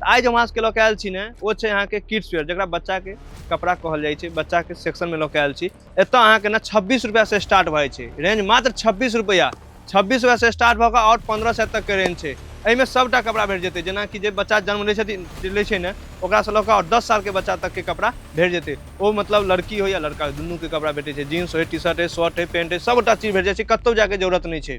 आइ जे हम अहाँ सबके लऽ के आयल छी ने ओ छै अहाँके किड्स वेयर जकरा बच्चाके कपड़ा कहल जाइ छै बच्चाके सेक्शनमे लऽ के आयल छी एतऽ अहाँके ने छब्बीस रुपैआसँ स्टार्ट भऽ जाइ छै रेंज मात्र छब्बीस रुपैआ छब्बीस रुपैआसँ स्टार्ट भऽ कऽ आओर पन्द्रह सए तकके रेंज छै एहिमे सभटा कपड़ा भेट जेतै जेनाकि जे बच्चा जन्म लै छथिन लै छै ने ओकरासँ लऽ कऽ आओर दस सालके बच्चा तकके कपड़ा भेट जेतै ओ मतलब लड़की हो या लड़का हो दुनूके कपड़ा भेटै छै जीन्स होइ टी शर्ट होइ शर्ट होइ पैंट होइ सभटा चीज भेट जाइ छै कतहु जायके जरूरत नहि छै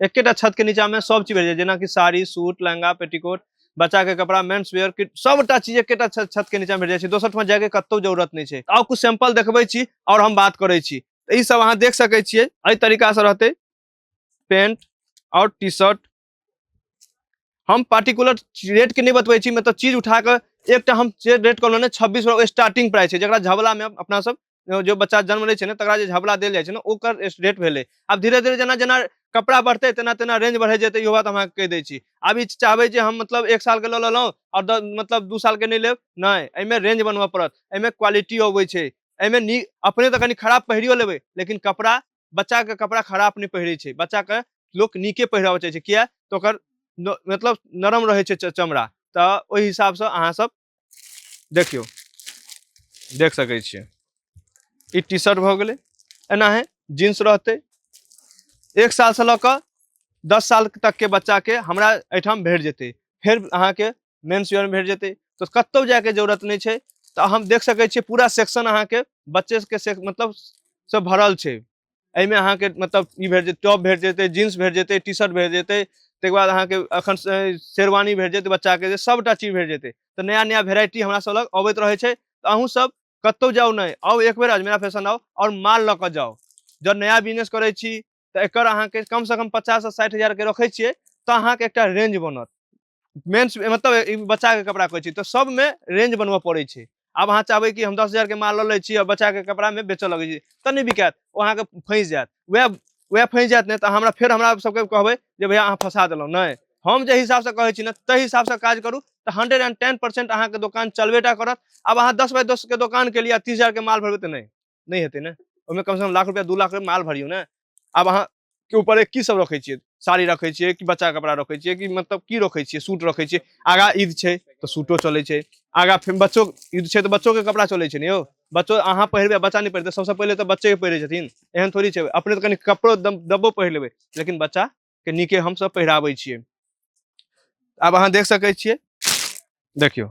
एकेटा छत के नीचा में सब चीज भेट जाय जेना कि साड़ी सूट लहंगा पेटीकोट बच्चा के कपड़ा मेंस वेयर किट सबटा चीज एकेटा छत छत के नीचा में भेट जाय छै दोसर ठमा जाय के कतौ जरूरत नहीं छै आउ कुछ सैंपल देखबै छी और हम बात करै छी तऽ ई सब अहाँ देख सकै छियै एहि तरीका से रहतै पेंट और टी शर्ट हम पार्टिकुलर रेट के नहीं बतबै छी मतलब चीज उठा के एकटा हम जे रेट कहलहुँ ने छब्बीस स्टार्टिंग प्राइस छै जकरा झबला में अपना सब जो बच्चा जन्म लै छै ने तकरा जे झबला देल जाइ छै ने ओकर रेट भेलै आब धीरे धीरे जेना जेना कपड़ा बढ़तै तेना तेना रेंज बढ़ै जेतै इहो बात हम अहाँके कहि दै छी आब ई चाहबै जे हम मतलब एक सालके लऽ लेलहुँ आओर मतलब दू सालके नहि लेब नहि एहिमे रेंज बनबऽ पड़त एहिमे क्वालिटी अबै छै एहिमे नीक अपने तऽ कनि खराब पहिरियो लेबै लेकिन कपड़ा बच्चाके कपड़ा खराब नहि पहिरै छै बच्चाके लोक नीके पहिराबऽ चाहै छै किया तऽ ओकर मतलब नरम रहै छै चमड़ा तऽ ओहि हिसाबसँ अहाँसभ देखियौ देख सकै छियै ई टी शर्ट भऽ गेलै एनाहे जीन्स रहतै एक सालसँ लऽ कऽ दस साल तकके बच्चाके हमरा एहिठाम भेट जेतै फेर अहाँके मेन्स वेयरमे भेट जेतै तऽ कतहु जायके जरूरत नहि छै तऽ हम देख सकै छियै पूरा सेक्शन अहाँके बच्चेके से मतलब से भरल छै एहिमे अहाँके मतलब ई भेट जेतै टॉप भेट जेतै जीन्स भेट जेतै टी शर्ट भेट जेतै ताहिके बाद अहाँके एखन से- शेरवानी भेट जेतै बच्चाके जे सभटा चीज भेट जेतै तऽ नया नया भेराइटी हमरा सब लग अबैत रहै छै तऽ अहूँ सब कतौ जाउ नहि आउ एक बेर अजमेरा फैशन आउ आओर माल लऽ कऽ जाउ जब नया बिजनेस करै छी तऽ एकर अहाँके कमसँ कम पचाससँ साठि हजारके रखै छियै तऽ अहाँके एकटा रेंज बनत मेंस मतलब ई बच्चा के कपड़ा कहै छी तऽ सब में रेंज बनबऽ पड़ै छै आब अहाँ चाहबै कि हम दस हजार के माल लऽ लै छी आ बच्चा के कपड़ा में बेचऽ लगै छी तऽ नहि बिकायत ओ अहाँके फँसि जायत वएह वएह फँसि जायत ने तऽ हमरा फेर हमरा सबके कहबै जे भैया अहाँ फंसा देलहुँ नहि हम जे हिसाब से कहै छी ने ताहि हिसाब से काज करू तऽ हंड्रेड एंड टेन परसेंट अहाँके दोकान चलबेटा करत आब अहाँ दस बाय दस के दोकान के लिए तीस हजार के माल भरबै तऽ नहि नहि हेतै ने ओहिमे कमसँ कम लाख रुपैआ दू लाख रुपैआ माल भरियौ ने आब अहाँके ऊपर की सब रखै छियै साड़ी रखै छियै कि बच्चा कपड़ा रखै छियै कि मतलब की रखै छियै सूट रखै छियै आगा ईद छै तऽ सूटो चलै छै आगा फेर बच्चो ईद छै तऽ बच्चोके कपड़ा चलै छै ने यौ बच्चो अहाँ पहिरबै बच्चा नहि पहिरतै सबसँ पहिले तऽ बच्चे पहिरै छथिन एहन थोड़ी छै अपने तऽ कनि कपड़ो दब दबो पहिर लेबै लेकिन बच्चा के नीके हम सब पहिराबै छियै आब अहाँ देख सकै छियै देखियौ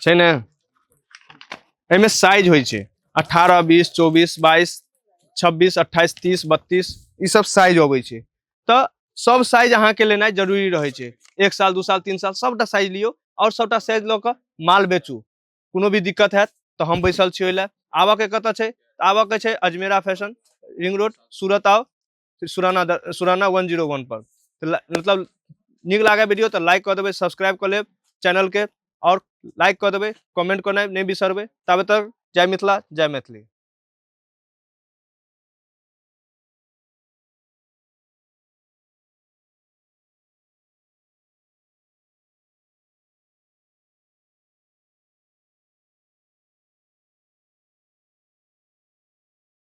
छै ने एहिमे साइज होइ छै अठारह बीस चौबीस बाईस छब्बीस अट्ठाईस तीस बत्तीस ई सब साइज अबै छै तऽ सब साइज अहाँके लेनाइ जरूरी रहै छै एक साल दू साल तीन साल सबटा साइज लियौ आओर सबटा साइज लऽ कऽ माल बेचू कोनो भी दिक्कत हैत तऽ हम बैसल छी ओहि लए आबऽके कतऽ छै आबऽके छै Ajmera fashion ring road Surat आउ Surana Surana one zero one पर तो मतलब निक लागे वीडियो तो लाइक कर देवे सब्सक्राइब कर ले चैनल के और लाइक कर देवे कमेंट करना नहीं बिसरबे तब तक जय मिथिला जय मैथिली